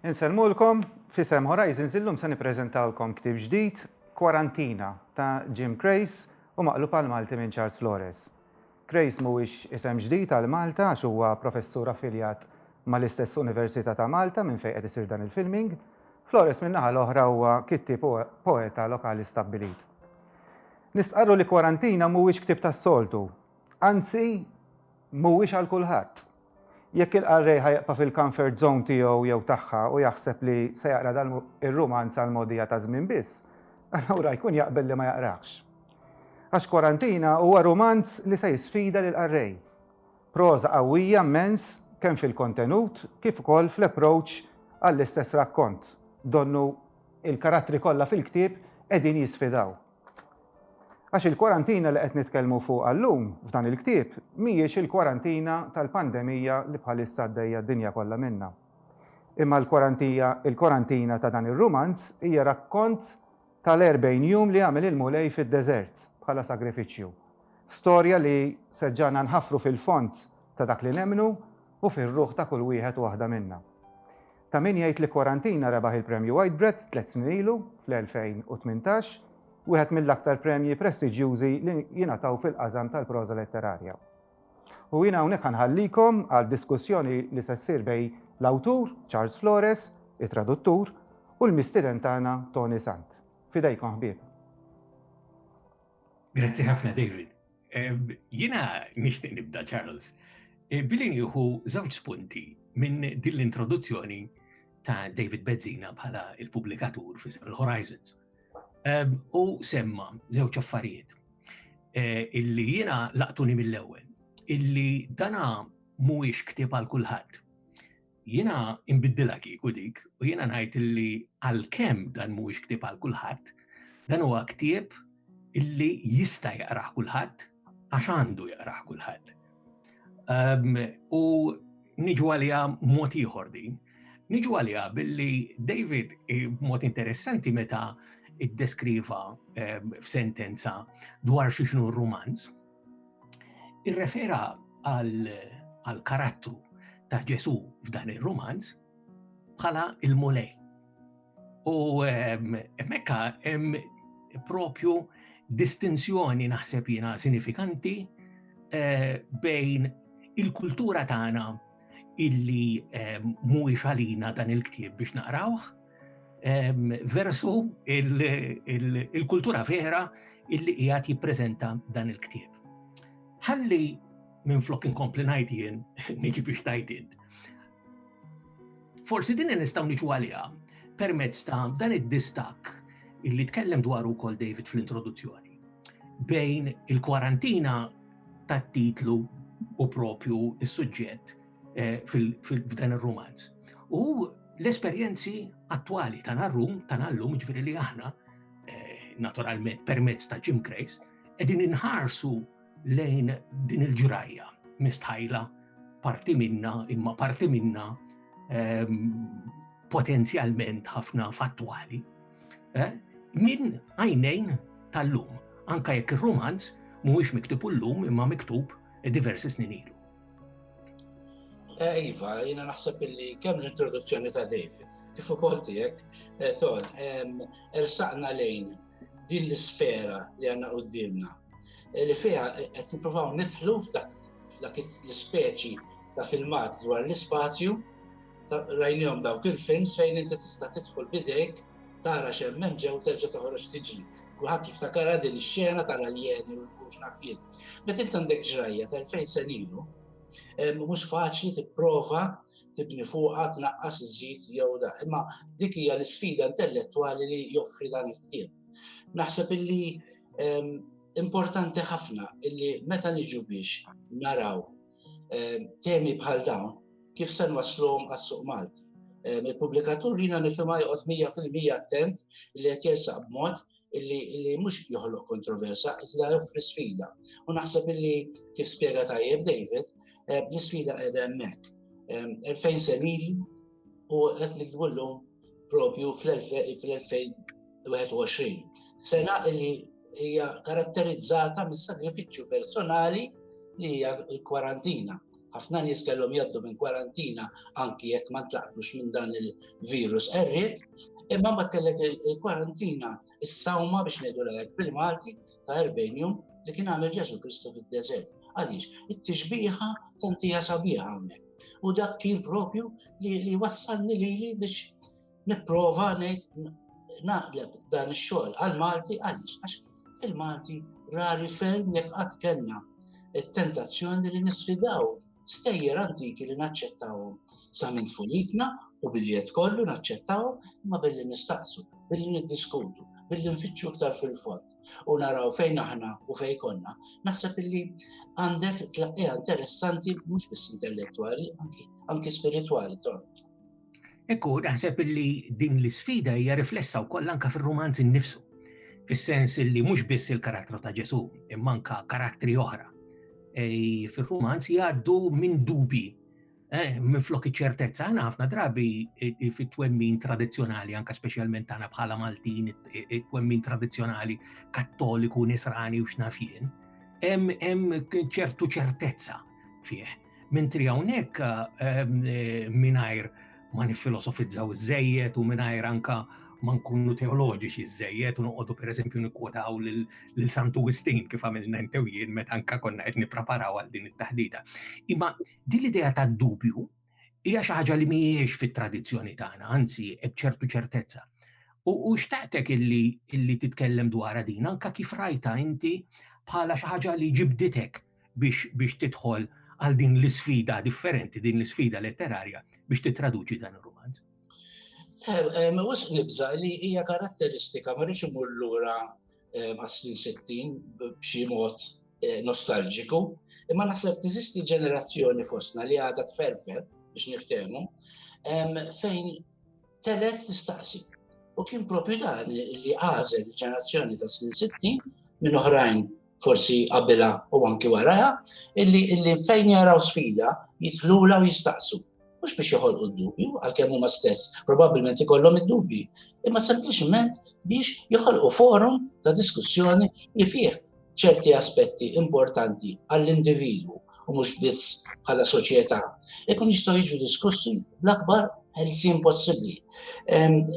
Insellmulkom fisem Horizons illum se nippreżentawlkom ktib ġdid Kwarantina ta' Jim Crace u maqlub għal Malti minn Charles Flores. Crace mhuwiex isem ġdid għal Malta għax huwa professur affiljat mal-istess Università ta' Malta minn fejn qed isir dan il-filming. Flores min-naħa l-oħra huwa kittieb poeta lokali stabbilit. Nistqarru li kwarantina mhuwiex ktieb tas-soltu. Anzi, mhuwiex għal kulħadd. Jekk il-qarrej ħa jibqa' fil-comfort zone tiegħu jew tagħha u jaħseb li se jaqra dan ir-rumanz għal mogħdija ta' żmien biss, allura jkun jaqbel li ma jaqrahx. Għax Kwarantina huwa rumanz li se jisfida lill-qarrej. Proża qawwija mmens kemm fil-kontenut kif ukoll fl-approach għall-istess rakkont, donnu il-karattri kollha fil-ktieb qegħdin jisfidaw. Għax il-kwarantina li qed nitkellmu fuqha llum f'dan il-ktieb mhijiex il-kwarantina tal-pandemija li bħalissa għaddejja d-dinja kollha minnha. Imma l-kwarantija, il-kwarantina ta' dan ir-rumanz hija rakkont tal-erbgħin jum li għamel il-Mulej fid-deżert bħala sagrifiċċju. Storja li se ġġagħlna nħaffru fil-fond ta' dak li nemmnu u fir-ruħ ta' kull wieħed u waħda minna. Ta' min jgħid li Quarantina rebaħ il-Premju Whitbread tliet snin ilu, fl-2018, wieħed mill-aktar premji prestiġjużi li jingħataw fil-qasam tal-proża letterarja. U jiena hawnhekk ħa nħallikom għal diskussjoni li se ssir bejn l-awtur, Charles Flores, it-traduttur, u l-mistieden tagħna Toni Sant. F'idejkom ħbieb. Grazzi ħafna David. Jina nixtieq nibda Charles, e, billi nieħu żewġ spunti minn din l-introduzzjoni ta' David Bezzina bħala il-pubblikatur fi Seven Horizons. U semma żewġ affarijiet e, illi jiena laqtuni mill-ewwel, illi dana mhuwiex ktieb għal kulħadd. Jiena inbiddilha kieku dik u jiena ngħid illi għalkemm dan mhuwiex ktieb għal kulħadd, dan huwa ktieb illi jista' jaqrah kulħadd għax għandu jaqrah kulħadd. Ehm, u niġu għalija mod ieħor din. Niġu għalija billi David eh, mod interessanti meta id-deskriva eh, f'sentenza dwar xi xnu romanz, irrefera għal karattru ta' Ġesu f'dan ir-romanz bħala il-mulej. U ehm, mekka hemm propju distinzjoni naħseb jiena sinifikanti eh, bejn il-kultura tagħna illi eh, mhuwiex għalina dan il-ktieb biex naqrawh versu il-kultura vera illi qiegħed jippreżenta dan il-ktieb. Ħalli minn flok inkompli ngħid jien niġi biex tajdin. Forsi din nistgħu niġu għaliha permezz ta' dan id-distak illi tkellem dwar ukoll David fl-introduzzjoni bejn il-kwarantina tat-titlu u propju is-suġġett eh, f'dan ir-rumanz. U l-esperjenzi attwali ta' narrum, ta' nallum, ġviri li aħna, eh, naturalment, permezz ta' Jim Grace, edin inħarsu lejn din il-ġrajja mistħajla parti minna, imma parti minna ehm, potenzjalment ħafna fattwali. Eh, min għajnejn tal-lum, anka jekk il-romanz mhuwiex miktub l-lum imma miktub diversi snin ilu. Eh, iva, jina naħseb illi kemm l-introduzzjoni ta' David, kif ukoll tiegħek, eh, ton, ersaqna lejn din l-isfera li għandna qudiemna eh, li fiha qed nippruvaw nidħlu f'dak l-ispeċi ta' filmat dwar l-ispazju, rajnihom dawk il-films fejn inti tista' tidħol bidejk tara x'hemm hemm ġew terġa' toħroġ tiġri. Kulħadd jiftakarha din ix-xena tal-aljeni u mhux naf jien. Meta int għandek ġrajja ta' fejn se nilu, eh, mhux faċli tipprova tibni fuqha tnaqqas iżid jew da. Imma dik hija l-isfida intellettwali li joffri dan il-ktieb. Naħseb illi ehm, importanti ħafna illi meta niġu biex naraw ehm, temi bħal dawn kif se nwaslhom għas-suq Malti. Ehm, il-pubblikatur jina nifhimha joqgħod 100% attent li qed jersaq b'mod li mhux joħloq kontroversa, iżda joffri sfida. U naħseb illi kif spjega tajjeb David, ehm, l-isfida qiegħda hemmhekk. Fejn se u qed nikdbu llum propju fl-2021. Sena li hija karatterizzata mis-sagrifiċċju personali li hija l-kwarantina. Ħafna nies kellhom jaddu minn kwarantina anki jekk ma tlaqtux minn dan il-virus qerriet, imma ma tkellek il-kwarantina is-sawma biex ngħidu lek primati ta' 40 jum li kien għamel Ġesu Kristu fid-deżert. Għaliex, it-tixbiħa tantija sabiħa hawnhekk. U dak kien propju li, li wassalni li li biex niprofa nejt naqleb dan ix-xogħol għal-Malti għaliex għax fil-Malti rari ferm jekk qatt kellna it-tentazzjoni li nisfidaw stejjer antiki li naċċettawhom sa minn tfulitna u billi qed kollu naċċettawhom ma billi nistaqsu, billi niddiskutu, billi nfittxu iktar fil-fond. u naraw fejn aħna u fejn konna, naħseb illi għandek tlaqqija interessanti mhux biss intellettwali, anki spiritwali tort. Ekku, naħseb illi din l-isfida hija riflessa wkoll anka fir-romanz innifsu, fis-sens illi mhux biss il-karattru ta' Ġesu, imma anka karattri oħra. E, fir-romanz jgħaddu minn dubi Eh, minflok iċ-ċertezza, għana ħafna drabi fit-twemmin tradizjonali, anka specialment għana bħala Maltin, it-twemmin tradizjonali kattoliku, nisrani u xnafjen, hemm ċertu ċertezza fih. Mentri hawnhekk ehm, eh, mingħajr ma nifilosofizzaw iż u mingħajr anka ma nkunu teoloġiċi ż-żejjed u noqogħdu pereżempju nikkwotaw lil Santu Wistin kif għamilna intew jien meta anka konna qed nippreparaw għal din it-taħdita. Imma Din l-idea tad-dubju hija xi ħaġa li mhijiex fit-tradizzjoni tagħna, anzi b'ċertu ċertezza. U xtaqtek illi illi titkellem dwar din anka kif rajta inti bħala xi ħaġa li ġibditek biex biex tidħol għal din l-isfida differenti, din l-isfida letterarja biex titraduċi dan ir-romanz. Eh, eh, ma wis nibża li hija karatteristika ma rridx imur lura għas-snin 60 b'xi mod eh, nostalġiku, imma naħseb tiżisti ġenerazzjoni fostna li għadha tferfer biex niftehmu, fejn telet tistaqsi. U kien propju dan li għażel il-ġenerazzjoni ta' snin 60 minn oħrajn forsi qabela u anki waraja, illi fejn jaraw sfida jitħlula u jistaqsu. mhux biex joħolqu d-dubju, għalkemm huma stess probabbilment ikollhom id-dubji, imma sempliċement biex joħolqu forum ta' diskussjoni li fih ċerti aspetti importanti għall-individwu u mhux biss bħala soċjetà, ikun jistgħu jiġu diskussi l-akbar ħelsin possibbli.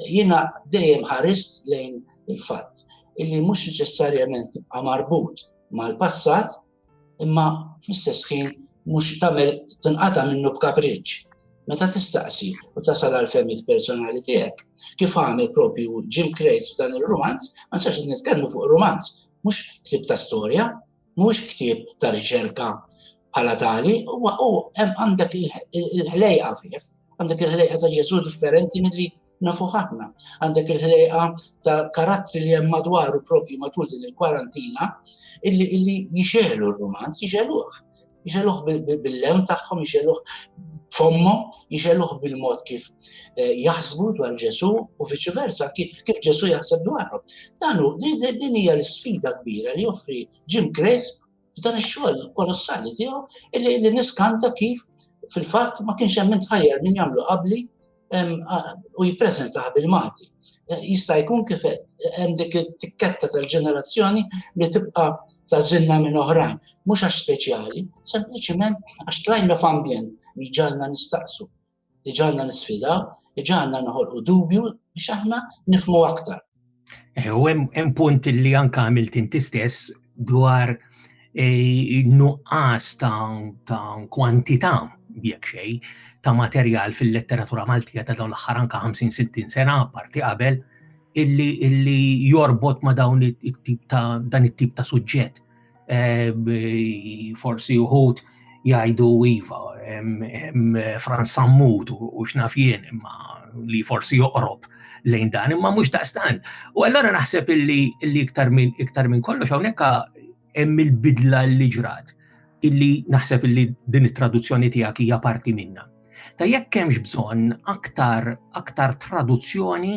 Jiena dejjem ħarist lejn il-fatt illi mhux neċessarjament tibqa' marbut mal-passat, Imma fl-istess ħin mhux tagħmel tinqata' minnu b'kapriċċ. Meta tistaqsi u tasal għal femmit personali tiegħek, kif għamel propju Jim Crates f'dan il-romanz, ma nistax nitkellmu fuq romanz, mhux ktib ta' storja, mhux ktib ta' riċerka bħala tali, u għandek il-ħlejqa fih, għandek il-ħlejqa ta' Ġesu differenti mill-li nafu ħafna. Għandek il-ħlejqa ta' karattri li hemm madwaru propju matul din il-kwarantina illi illi jixelu r-romanz, jixeluh. Jixeluh bil-lem tagħhom, jixeluh fommo, jixeluh bil-mod kif eh, jaħsbu dwar Ġesu u viċi versa, kif Ġesu jaħseb dwarhom. Danu, din hija l-sfida kbira li joffri Jim Crisp f'dan ix-xogħol kolossali tiegħu illi li niskanta kif fil-fatt ma kienx hemm intħajjar min jagħmlu qabli u jippreżentaha bil-Malti. Eh, jista' jkun kif hemm dik it-tikketta tal-ġenerazzjoni li tibqa' tażilna minn oħrajn, mhux għax speċjali, sempliċiment għax tlajna f'ambjent li ġalna nistaqsu iġalna nisfidaw, iġalna noħolqu dubju biex aħna nifmu aktar. Eh, u hemm punt li anka għamilt inti stess dwar eh, nuqqas ta' kwantità jekk xej ta' materjal fil-letteratura Maltija ta' dawn l-aħħar anka 50-60 sena parti qabel illi illi jorbot ma' dawn it-tip ta' dan it-tip ta' suġġett. forsi uħut jgħidu iva, Franz Sammut u xnaf jien, imma li forsi joqrob lejn dan, imma mhux daqstan. U allora naħseb illi iktar minn iktar minn kollox hawnhekk hemm il-bidla li ġrat illi naħseb illi din it-traduzzjoni tiegħek hija parti minna. Ta' jekk hemmx bżonn aktar aktar traduzzjoni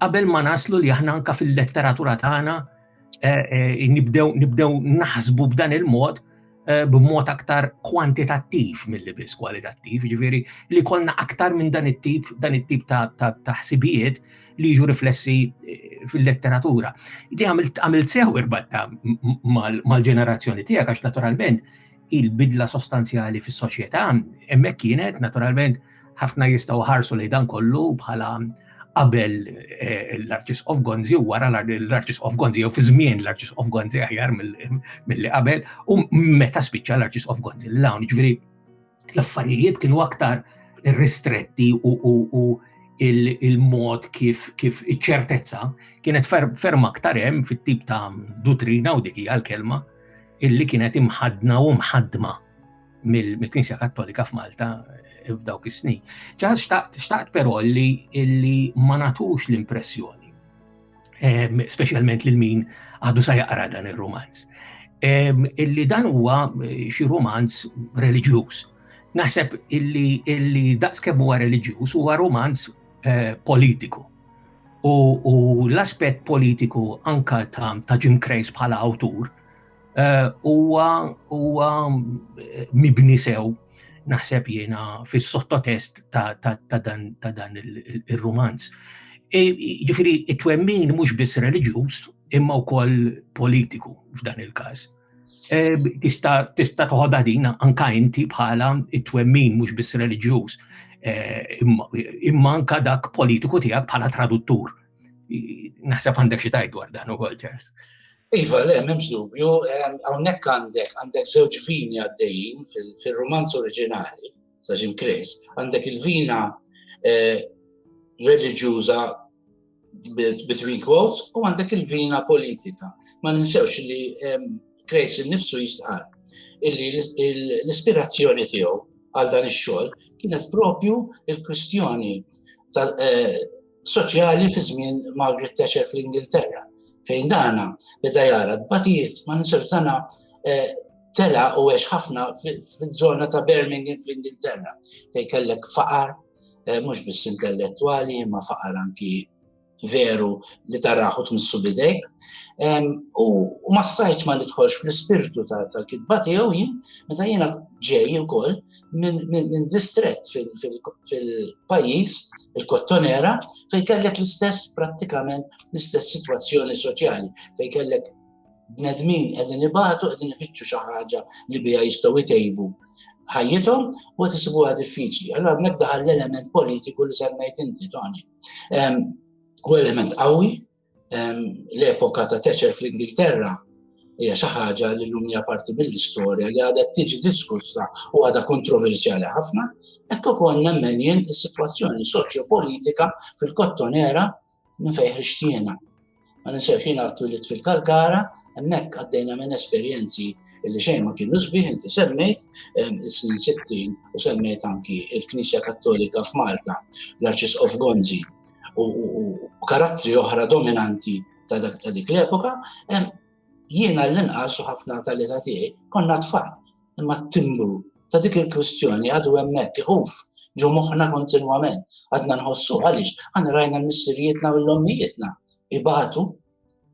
qabel ma naslu li aħna anka fil-letteratura tagħna nibdew naħsbu b'dan il-mod eh, b'mod aktar kwantitattiv mill-li biss kwalitattiv, ġifiri li konna aktar minn dan it-tip, dan it-tip ta' ħsibijiet li jiġu riflessi eh, fil-letteratura. Di għamilt sew irbatta mal-ġenerazzjoni tiegħek għax naturalment il-bidla sostanzjali fis-soċjetà, hemmhekk kienet naturalment ħafna jistgħu ħarsu li dan kollu bħala qabel eh, l-Arċis of Gonzi u wara l-Arċis of Gonzi, jew fi żmien l-Arċis of Gonzi aħjar mill-li qabel, u meta spiċċa l-Arċis of Gonzi l-lawn, ġviri l-affarijiet kienu aktar ristretti u il-mod kif kif iċ-ċertezza kienet ferm aktar hemm fit-tip ta' dutrina u dik hija l-kelma illi kienet imħadna u mħadma mill-Knisja Kattolika f'Malta eh, f'dawk is-snin. Ġaħas xtaqt però li illi ma natux l-impressjoni, ehm, speċjalment lil min għadu sa jaqra dan ir-romanz, ehm, illi dan huwa eh, xi romanz reliġjuż. Naħseb illi illi daqskemm huwa reliġjuż huwa romanz eh, politiku. u l-aspett politiku anka ta' Jim Crace bħala awtur eh, huwa mibni sew naħseb jiena fis-sottotest ta' dan il-rumanz. E, ġifiri, it-twemmin mhux biss reliġjuż imma wkoll politiku f'dan il-każ. Eh, tista' tista' toħodha din anka inti bħala it-twemmin mhux biss reliġjuż eh, imma anka dak politiku tiegħek bħala traduttur. Naħseb għandek xi tajt dwar dan ukoll ċers. Iva, le, memx dubju, eh, hawnhekk għandek għandek żewġ vini għaddejjin fil-romanz oriġinali ta' Jim Chris, għandek il-vina reliġjuża between quotes, u għandek il-vina politika. Ma ninsewx li Krejs nifsu jistqar illi l-ispirazzjoni tiegħu għal dan ix-xogħol kienet propju il-kwistjoni eh, soċjali fi żmien Margaret Thatcher fl-Ingilterra. Fejn dana beda jara d-batijiet ma ninsewx dana eh, tela u għex ħafna fil-żona ta' Birmingham fl-Ingilterra fejn kellek faqar, eh, mhux biss intellettwali, imma faqar anki veru li taraħu tmissu bidejk. U ma stajċ ma nidħolx fl-spirtu tal-kitba tiegħu jien, meta jiena ġej ukoll minn distret fil-pajjiż, il-Kottonera, fejn kellek l-istess prattikament l-istess sitwazzjoni soċjali, fejn kellek bnedmin qegħdin ibatu qegħdin ifittxu xi ħaġa li biha jistgħu jtejbu ħajjithom u qed isibuha diffiċli. Allora hemmhekk daħal l-element politiku li semmejt inti Tony. U element qawwi l-epoka ta' Teċer fl-Ingilterra hija xi ħaġa li llum hija parti mill-istorja li għadha tiġi diskussa u għadha kontroversjali ħafna, hekk ukoll nemmen jien is-sitwazzjoni soċjopolitika fil-kottonera Minn fejn ħriġt jiena? Ma ninsewx jiena twilit fil-Kalkara, hemmhekk għaddejna minn esperjenzi li xejn ma kienu sbieħ inti semmejt is-snin 60 u semmejt anki il-Knisja Kattolika f'Malta, l-Arċisqof Gonzi u karattri oħra dominanti ta' dik l-epoka, jiena l-inqas u ħafna tal-età tiegħi konna tfal Imma t-timbru ta' dik il-kwistjoni għadu hemmhekk iħuf ġo moħħna kontinwament. Għadna nħossu għaliex għandna rajna missirijietna u l-ommijietna ibatu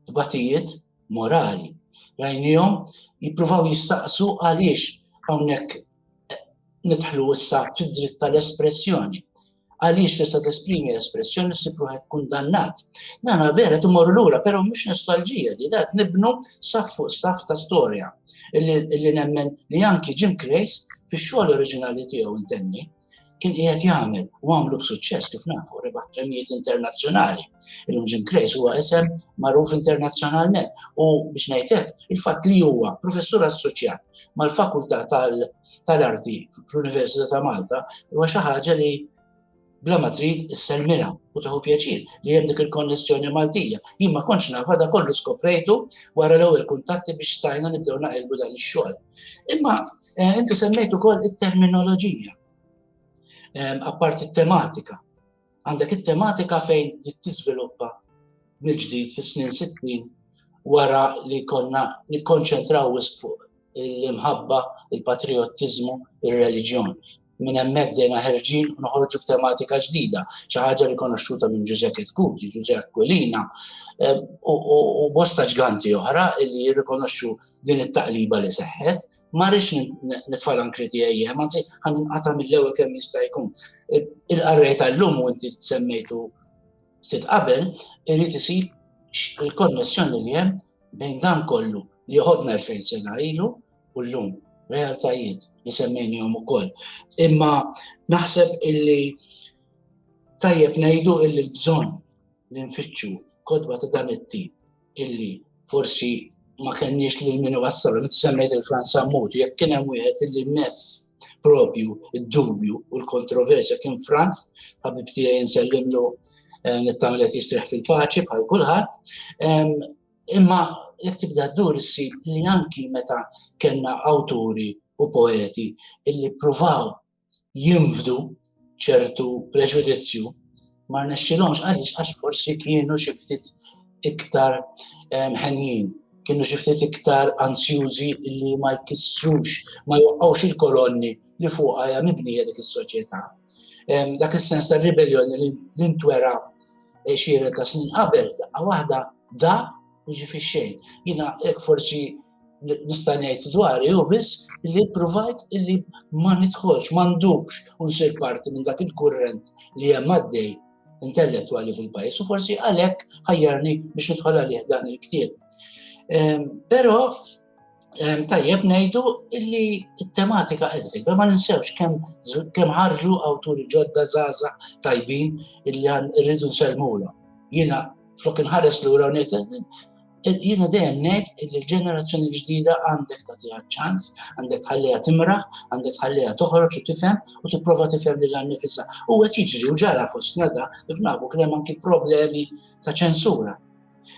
tbatijiet morali. Rajnijom jippruvaw jistaqsu għaliex hawnhekk nidħlu issa fid-dritt tal-espressjoni. għaliex tista' tesprimi l-espressjoni ssib ruħek kundannat. Nana vera timorru lura, però mhux nostalġija li dat nibnu saf fuq staff ta' storja li nemmen li anki Jim Crace fix-xogħol oriġinali tiegħu intenni kien qiegħed jagħmel u għamlu b'suċċess kif nafu rebaħ premijiet internazzjonali. Illum Jim Crace huwa isem magħruf internazzjonalment u biex ngħidlek il-fatt li huwa professur assoċjat mal-Fakultà tal- tal-arti fl-Università ta' Malta huwa xi ħaġa li bla ma trid isselmilha u taħu pjaċir li hemm dik il-konnessjoni Maltija. Jien ma kontx nafa da kollu skoprejtu wara l-ewwel kuntatti biex stajna nibdew naqilbu dan ix-xogħol. Imma eh, inti semmejt ukoll it-terminoloġija. Apparti tematika Għandek it-tematika fejn tiżviluppa mill-ġdid fis-snin 60 wara li konna nikkonċentraw wisq fuq l-imħabba, il-patriottiżmu, il-reliġjon. Minn hemmhekk dejna ħerġin u noħorġu b'tematika ġdida, xi ħaġa rikonoxxuta minn Giuseppe Tkuti, Ġuże Aquilina eh, u bosta ġganti oħra li jirrikonoxxu din it-taqliba li seħħet Ma rridx nitfal ankri tiegħi hemm, anzi ħan inqata' mill-ewwel kemm jista' jkun. Il-qarrej tal-lum u inti semmejtu ftit qabel irid isir il-konnessjoni li hemm bejn dan kollu li joħodna l-fejn sena ilu u l-lum realtajiet li semmejnihom ukoll. Imma naħseb illi tajjeb ngħidu illi l-bżonn li nfittxu kodba ta' dan it-tip illi forsi ma kenniex li min wassal, li semmejt il-Franz Ammut, jekk kien hemm wieħed illi mess propju id-dubju u l-kontroversja kien Franz, ħabib tiegħi nsellimlu eh, nittamel qed jistrieħ fil-paċi bħal kulħadd. Imma jekk tibda ddur issib li anki meta kellna awturi u poeti illi pruvaw jinfdu ċertu preġudizzju ma rnexxilhomx għaliex għax forsi kienu xi ftit iktar ehm, ħenjin, kienu xi ftit iktar ansjużi li ma jkissrux, ma joqqgħux il-kolonni li fuqha hija mibnija dik is-soċjetà. Ehm, dak is-sens ta' ribelljoni li l-intwera eh, xiret ta' snin qabel, daqqa waħda dab u ġi fix-xejn. Jiena hekk forsi nista' ngħid dwari hu biss li provajt illi ma nidħolx, ma ndubx u nsir parti minn dak il-kurrent li hemm għaddej intellettwali fil-pajjiż u forsi għalhekk ħajjarni biex nidħol għalih dan il-ktieb. Ehm, però ehm, tajjeb ngħidu illi t-tematika qed ma ninsewx kemm ħarġu awturi ġodda zaza tajbin illi rridu nsellmulhom. Jiena flok inħares lura ngħid Jiena dejjem ngħid li l-ġenerazzjoni ġdida għandek tagħtiha ċans, għandek tħalliha timraħ, għandek tħalliha toħroġ u tifhem u tipprova tifhem lil nifisha. U qed jiġri u ġara fostna da kif nafu kien hemm anki problemi ta' ċensura.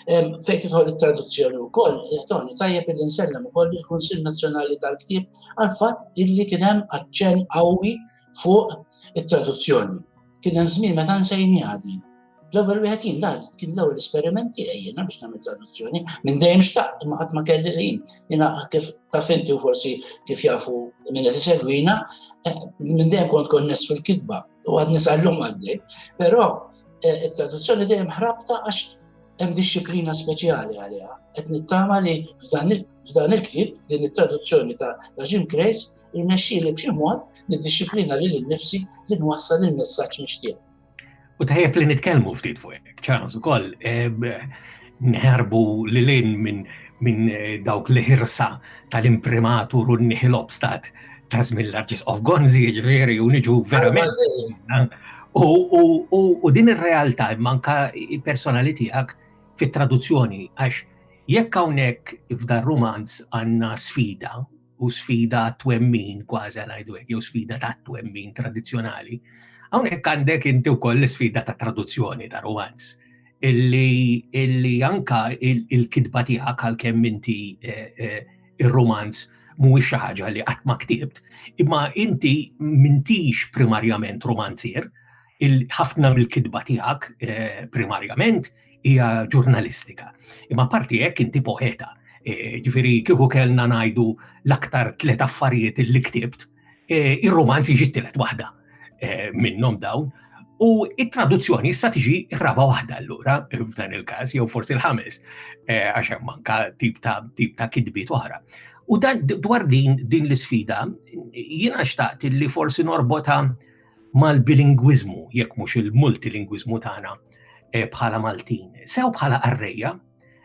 Fejn tidħol it-traduzzjoni wkoll, jagħtoni tajjeb li nsellem ukoll il-Kunsill Nazzjonali tal-Ktieb għal fatt illi kien hemm aċċenn qawwi fuq it-traduzzjoni. Kien hemm żmien meta nsejniha din. L-ewwel wieħed jien dan kien l-ewwel esperiment tiegħi jiena biex nagħmel traduzzjoni minn dejjem xtaqt imma qatt ma kelli ħin. Jiena kif taf inti u forsi kif jafu minn qed isegwina, eh, minn dejjem kont konness fil-kitba u għad nisallum għaddej. Però eh, it-traduzzjoni dejjem ħrabta għax hemm disċiplina speċjali għaliha. Qed nittama li f'dan il-ktieb, din it-traduzzjoni ta' Jim Grace, Irnexxieli b'xi mod niddixxiplina lili nnifsi li nwassal il-messaġġ mixtieq. U tajjeb li nitkellmu ftit fuq hekk, ċans ukoll eh, nħarbu lil in minn min eh, dawk li ħirsa tal-imprimatur u n-nihil obstat ta' żmien l-arġis of Gonzi, ġveri, u niġu verament. U din ir-realtà manka personali tiegħek fit-traduzzjoni għax jekk hawnhekk f'dar rumanz għandna sfida u sfida twemmin kważi ngħidu hekk, jew sfida ta' twemmin tradizzjonali. Hawnhekk għandek inti wkoll l-sfida ta' traduzzjoni ta' romanz illi, illi anka il-kidba tiegħek għalkemm inti eh, eh, ir-romanz mhuwiex xi ħaġa li qatt ma ktibt, imma inti mintix primarjament romanzier, ħafna mill-kidba tiegħek eh, primarjament hija ġurnalistika. Imma parti hekk inti poeta. E, ġifieri kieku kellna ngħidu l-aktar tliet affarijiet li ktibt, e, ir-romanz jiġi t-tielet waħda e, minnhom dawn. U it-traduzzjoni issa tiġi raba waħda allura f'dan il-każ jew forsi l-ħames għax hemm manka tip ta' tip ta' kidbiet oħra. U dan dwar din din l-isfida jiena xtaqt li forsi norbota mal-bilingwiżmu jekk mhux il-multilingwiżmu tagħna eh, bħala Maltin, sew bħala qarrejja,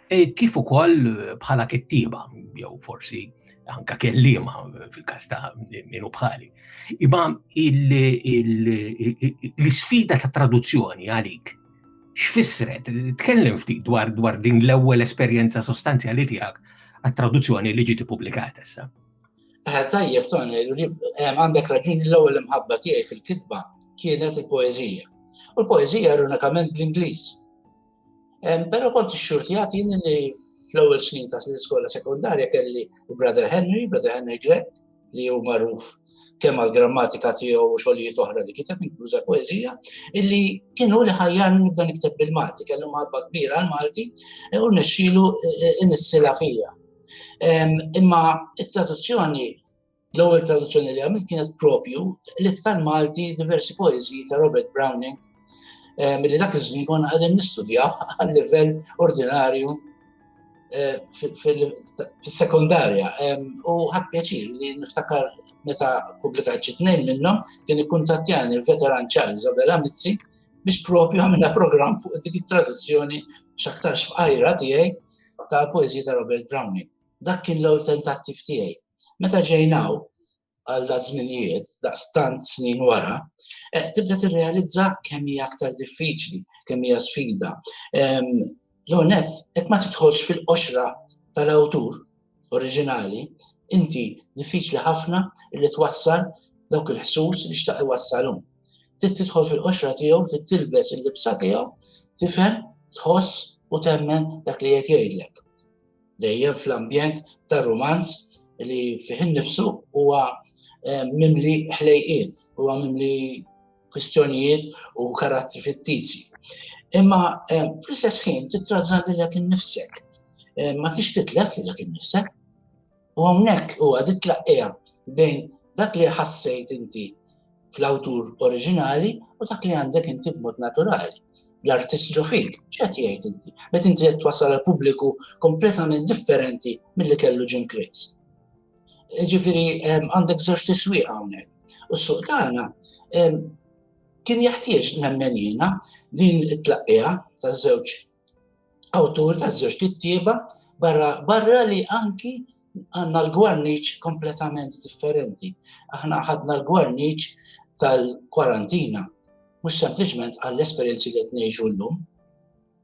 eh, kif ukoll eh, bħala kittieba, jew forsi anka kellima fil-kas ta' minu bħali. Imma l-isfida ta' traduzzjoni għalik x'fissret, tkellem ftit dwar dwar din l-ewwel esperjenza sostanzjali tiegħek għat-traduzzjoni li ġiet ippubblikata issa. Eh, tajjeb, ton, eh, għandek raġuni l-ewwel imħabba tiegħi fil-kitba kienet il-poezija. U l-poezija ironikament bl-Ingliż. Eh, però kont xxurtijat jien li fl-ewwel snin ta' l-iskola sekundarja kelli Brother Henry, Brother Henry Greg, li hu magħruf kemm għal-grammatika tiegħu u xogħlijiet oħra li kiteb inkluża poeżija, illi kienu li ħajjarni nibda nikteb bil-Malti, kellu maħabba kbira għal-Malti u nixxilu inissila fija. Imma it-traduzzjoni, l-ewwel traduzzjoni li għamilt kienet propju li btal Malti diversi poeziji ta' Robert Browning milli dak iż-żmien konna qegħdin nistudjaw għal livell ordinarju eh, fis-sekondarja. U ħadd pjaċir li niftakar meta pubblikajt xi tnejn minnhom kien ikkuntattjani l-veteran Charles Abela Mizzi biex propju għamilna programm fuq dik it-traduzzjoni x'aktarx f'qajra tiegħi tal-poeżija ta' Robert Browning. Dak kien l-ewwel tentattiv tiegħi. Meta ġejnaw għal da żminijiet, daqstant snin wara, eh, tibda tirrealizza kemm hija aktar diffiċli, kemm hija sfida. L-onet, qed ma tidħolx fil-qoxra tal-awtur oriġinali, inti diffiċli ħafna li twassal dawk il-ħsus li xtaq iwassalhom. Trid tidħol fil-qoxra tiegħu, trid tilbes il-libsa tiegħu, tifhem, tħoss u temmen dak li qed jgħidlek. Dejjem fl-ambjent ta' rumanz li fih innifsu huwa eh, mimli ħlejqiet, huwa mimli kwistjonijiet u karattri fittizi. Imma eh, fl-istess ħin titrażżan lilek innifsek. Eh, ma tix titlef lilek innifsek. U hawnhekk huwa dit tlaqqija bejn dak li ħassejt inti fl-awtur oriġinali u dak li għandek inti b'mod naturali. L-artist ġofik, x'qed jgħid inti? Met inti qed twassal għal pubbliku kompletament differenti milli kellu Jim Chris. Ġifieri għandek żewġ tiswieq hawnhekk. U s-suq tagħna kien jaħtieġ nemmen jiena din it-tlaqqija taż-żewġ awtur ta' żewġ kittieba barra, barra li anki għanna l-gwarniċ kompletament differenti. Aħna ħadna l-gwarniċ tal-kwarantina, mux sempliciment għall-esperienzi li t-nejġu l-lum.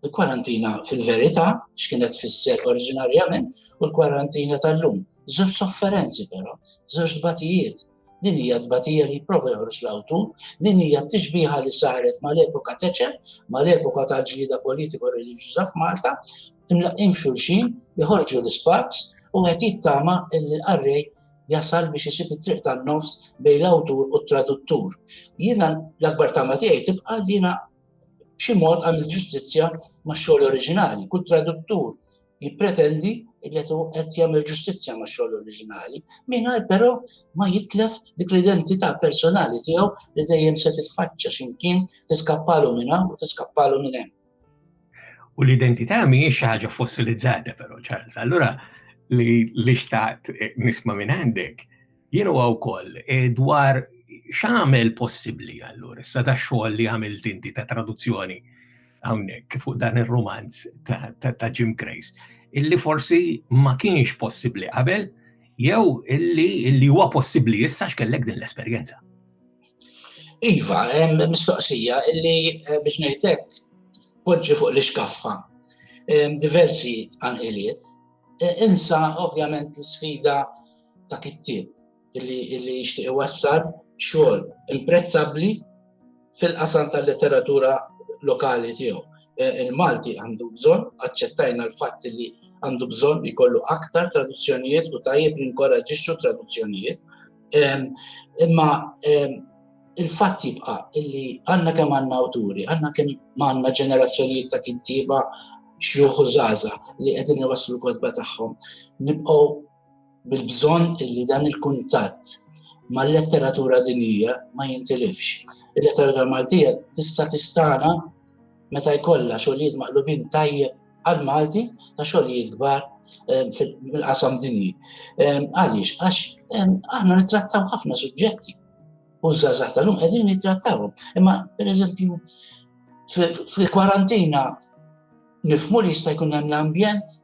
Il-kwarantina fil-verita, xkienet fisser oriġinarjament, u l-kwarantina tal-lum. Zewġ sofferenzi però, zewġ batijiet, Din hija tbatija li jipprova joħroġ l-awtu, din hija t-tixbiħa li saret mal-epoka teċe, mal-epoka tal-ġlida politiko reliġjuża f'Malta, imlaqqim xulxin, jħorġu l-ispaks u qed jittama l-qarrej jasal biex isib it-triq tan-nofs bejn l-awtur u t-traduttur. Jiena l-akbar tama tiegħi tibqa' li jiena b'xi mod għamil ġustizzja max-xogħol oriġinali. Kull traduttur jippretendi li qed jagħmel ġustizzja max-xogħol oriġinali, mingħajr però ma jitlef dik l-identità personali tiegħu li dejjem se titfaċċa x'imkien tiskappalu minn hawn u tiskappalu minn hemm. U l-identità mhijiex xi ħaġa fossilizzata però, Charles. Allura li xtaqt nisma' minn għandek Jien huwa wkoll eh, dwar x'għamel possibbli allura issa da xogħol li għamilt inti ta' traduzzjoni hawnhekk fuq dan ir-romanz ta' Jim Grace illi forsi ma kienx possibbli qabel jew illi illi huwa possibbli issa x'kellek din l-esperjenza. Iva, hemm mistoqsija illi eh, biex ngħidlek poġġi fuq l-iskaffa diversi tqanqiliet E, insa ovvjament l-sfida ta' kittieb illi jixtieq iwassal xogħol imprezzabbli fil-qasam tal-letteratura lokali tiegħu. E, Il-Malti għandu bżonn, aċċettajna l-fatt li għandu bżonn li kollu aktar traduzzjonijiet u tajjeb li nkoraġixxu traduzzjonijiet. Imma il-fatt jibqa illi għanna kemm għanna awturi, għanna kemm għanna ġenerazzjonijiet ta' kittiba xjuħu zaza li għedin jwaslu kodba tagħhom. Nibqgħu bil-bżonn illi dan il-kuntatt ma' letteratura dinija ma jintilifx. Il-letteratura Maltija tista' tistana meta jkollha xogħlijiet maqlubin tajjeb għal Malti ta' xogħlijiet kbar eh, fil-qasam dinji. Eh, għaliex, għax eh, aħna nittrattaw ħafna suġġetti u żgħażagħ tal-lum qegħdin jittrattawhom. Imma pereżempju fil-kwarantina nifmu li jista' jkun hemm l-ambjent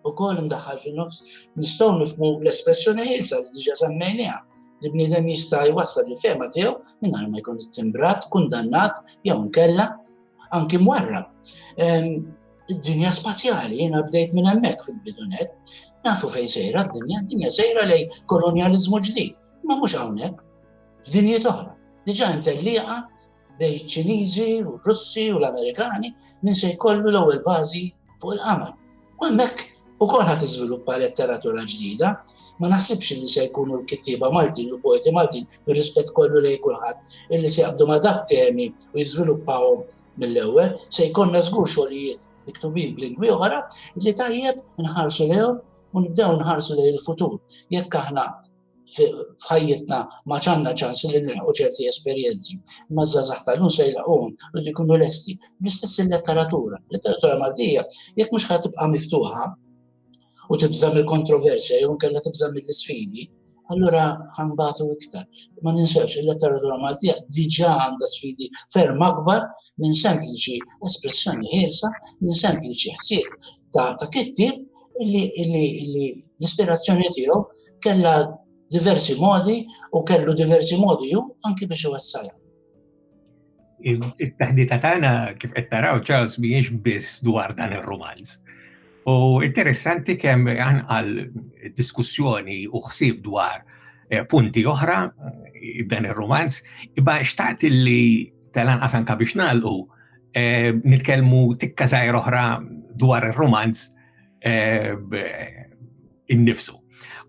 ukoll imdaħħal fin-nofs, nistgħu nifmu l-espressjoni ħilsa li diġà semmejniha li bniedem jista' jwassal li fema tiegħu mingħajr ma jkun timbrat, kundannat jew nkella anki mwarrab. Id-dinja spazjali jiena bdejt minn hemmhekk fil-bidunet, nafu fejn sejra d-dinja, d-dinja sejra lej kolonjaliżmu ġdid. Ma mhux hawnhekk, f'dinjiet oħra. Diġà hemm tellieqa bejn iċ-Ċiniżi u r-Russi u l-Amerikani min se jkollu l-ewwel bażi fuq il-qamar. U hemmhekk ukoll ħadd iżviluppa letteratura ġdida, ma naħsibx li se jkunu l-kittieba Maltin u poeti Maltin bir-rispett kollu lejn kulħadd illi se jaqbdu ma' dak temi u jiżviluppawhom mill-ewwel, se jkollna żgur xogħlijiet miktubin b'lingwi oħra li tajjeb nħarsu lejhom u nibdew nħarsu lejn il-futur. Jekk aħna f'ħajjitna ma ċanna ċans li nilħu ċerti esperjenzi, ma zazax tal-lum se jilħuhom u jkunu lesti. L-istess il-letteratura. Letteratura Maltija, jekk mhux ħad tibqa' miftuħa u tibża' mill-kontroversja jew nkella tibża' mill-isfidi, allura ħambatu iktar. Ma ninsewx il-letteratura Maltija diġa għandha sfidi ferm akbar minn sempliċi espressjoni ħielsa, minn sempliċi ħsieb ta' ta' kitti li l-ispirazzjoni tiegħu kellha diversi modi u kellu diversi modi ju anki biex iwassalha. it-taħdita tagħna kif qed taraw Charles mhijiex biss dwar dan ir-romanz. U interessanti kemm għal diskussjoni u ħsieb dwar eh, punti oħra eh, dan ir-romanz, iba xtaqt li tal-anqas anka biex nagħlqu eh, nitkellmu tikka żgħir oħra dwar ir-romanz innifsu.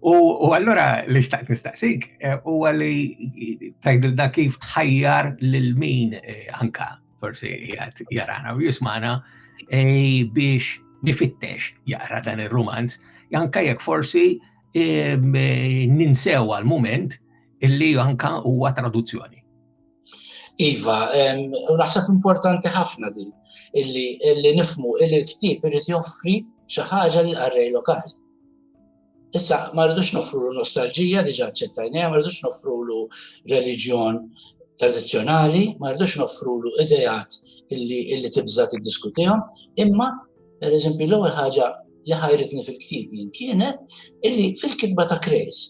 U allura li xtaqt nistaqsik eh, u għalli tajdilna kif tħajjar l-min eh, anka forsi jgħat jarana u jismana eh, biex nifittex jaqra dan il-romanz, janka jek forsi ninsew għal-moment illi anka huwa traduzzjoni. Iva, naħseb importanti ħafna din illi nifmu illi l-ktib irid joffri xi ħaġa lil qarrej lokali. Issa, ma rridux nofru nostalġija diġa ċettajnija, ma rridux nofru l reliġjon tradizjonali, ma rridux nofru l idejat illi tibza tiddiskutihom, imma, per eżempju, l-ewwel ħaġa li ħajritni fil-ktib jien kienet illi fil-kitba ta' Krejs,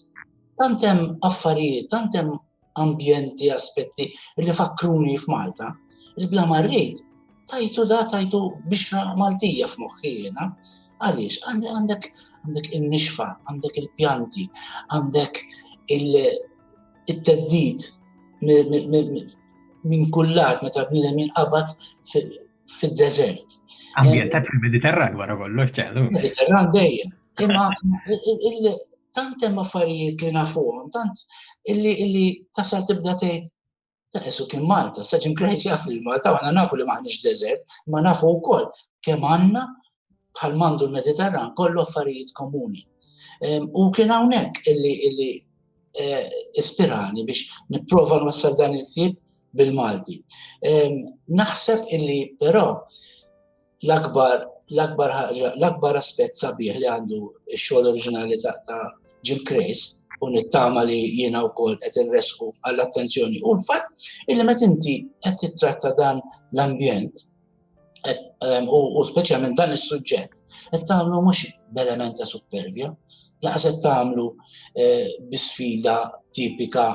tantem affarijiet, tantem ambjenti, aspetti li fakkruni f'Malta, il-bla marrit tajtu da tajtu biex Maltija f'moħħi jena. Għaliex, għandek għandek il-nixfa, għandek il-pjanti, għandek il-teddit minn kullat meta bnidem jinqabad fil-deżert. Ambjentat eh, fil-Mediterran wara kollox ċellu. Mediterran dejjem. Imma tant hemm affarijiet li nafuhom, tant illi illi tasal tibda tgħid ta' esu kien Malta, saġin krejt jaf li Malta, għana nafu li maħnix deżert, ma nafu wkoll kemm għandna bħal mandu l-Mediterran kollu affarijiet komuni. U kien hawnhekk illi illi eh, ispirani biex nipprova nwassal dan il-ktieb bil-Malti. Naħseb illi però l-akbar l-akbar ħaġa, l-akbar aspett sabiħ li għandu x-xogħol oriġinali ta' Jim Crace u nittama li jiena wkoll qed irresqu għall-attenzjoni u l-fatt illi meta inti qed titratta dan l-ambjent u speċjalment dan is-suġġett qed tagħmlu mhux b'element ta' supervja, laqas qed tagħmlu eh, bi sfida tipika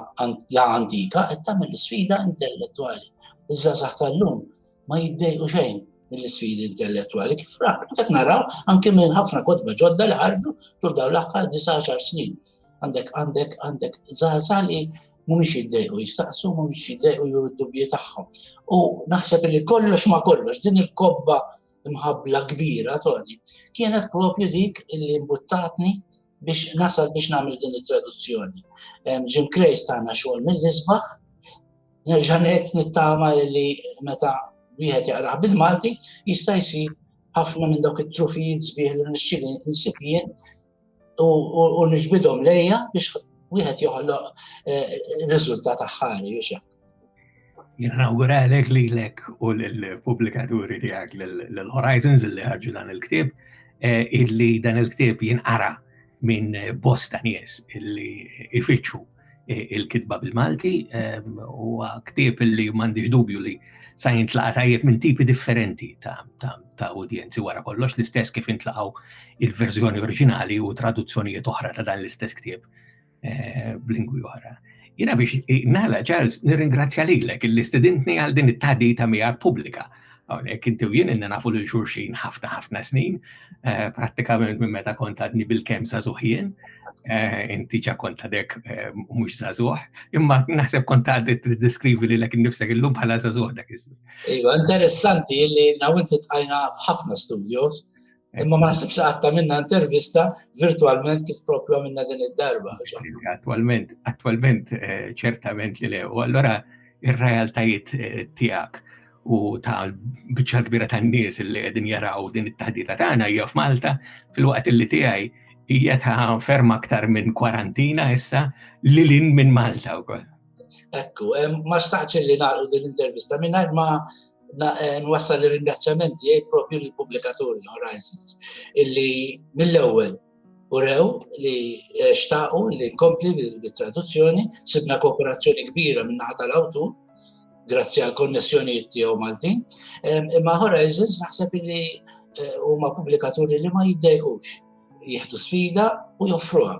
la antika, qed tagħmel sfida intellettwali. Iż-żgħażagħ tal-lum ma jiddejqu xejn mill-sfidi intellettwali kif rak. Dak naraw anke minn ħafna kotba ġodda li ħarġu tul dawn l-aħħar 19 snin. għandek għandek għandek zaza li mhumiex jiddejqu jistaqsu, mhumiex jiddejqu juru d-dubji tagħhom. U naħseb li kollox ma kollox din il-kobba mħabla kbira toni kienet propju dik li mbuttatni biex nasal biex nagħmel din it-traduzzjoni. Jim Krejs tagħna xogħol mill-isbaħ, nerġa' ngħid nittama li meta wieħed jaqrah bil-Malti jista' jsir ħafna minn dawk it-trufijiet sbieħ li nixtieq nsib jien u nġbidhom lejja biex wieħed joħloq eh, riżultat aħħari u xek. Jena nawguralek li lek u l-publikaturi tijak l-Horizons li ħarġu dan il-ktib, eh, illi dan il-ktib jinqara minn bosta nies illi ifittxu il-kitba bil-Malti u ktieb li m'għandix dubju li sa jintlaqa' tajjeb minn tipi differenti ta' udjenzi wara kollox l-istess kif intlaqgħu il-verżjoni oriġinali u traduzzjonijiet oħra ta' dan l-istess ktieb eh, b'lingwi oħra. Jina biex nala, Charles, nirringrazzja lilek il-istudentni għal din it-tadita miegħek pubblika. Hawnhekk inti u jien nafu lil xulxin ħafna ħafna snin, eh, prattikament minn meta kont għadni bil-kemm żagħżugħ jien, eh, inti ġa kont għadek eh, mhux żagħżugħ, imma naħseb kont għaddi tiddeskrivi li lek innifsek illum bħala żagħżugħ dak iż-żmien. Iva, interessanti li nawinti tqajna f'ħafna studios Imma ma nasibx għatta minna intervista virtualment kif propju minna din id-darba. Attualment, attualment eh, ċertament li le. U allora ir-realtajiet eh, tijak u ta' bicċa kbira ta' nies li għedin jaraw din it-taħdita tagħna hija f'Malta fil-waqt li tiegħi hija ta' ferma aktar minn kwarantina issa li lin minn Malta wkoll. Ekku, ma xtaqt li nagħlqu din l-intervista mingħajr ma eh, nwassal ir-ringrazzjamenti għaj propju l-publikatur l-Horizons illi mill-ewwel urew li eh, xtaqu li nkompli bil-traduzzjoni, sibna kooperazzjoni kbira minnaħa tal-awtur, grazzi għal konnessjonijiet tiegħu Maltin, imma Horizons naħseb li eh, huma pubblikaturi li ma jiddejqux jieħdu sfida u joffruha.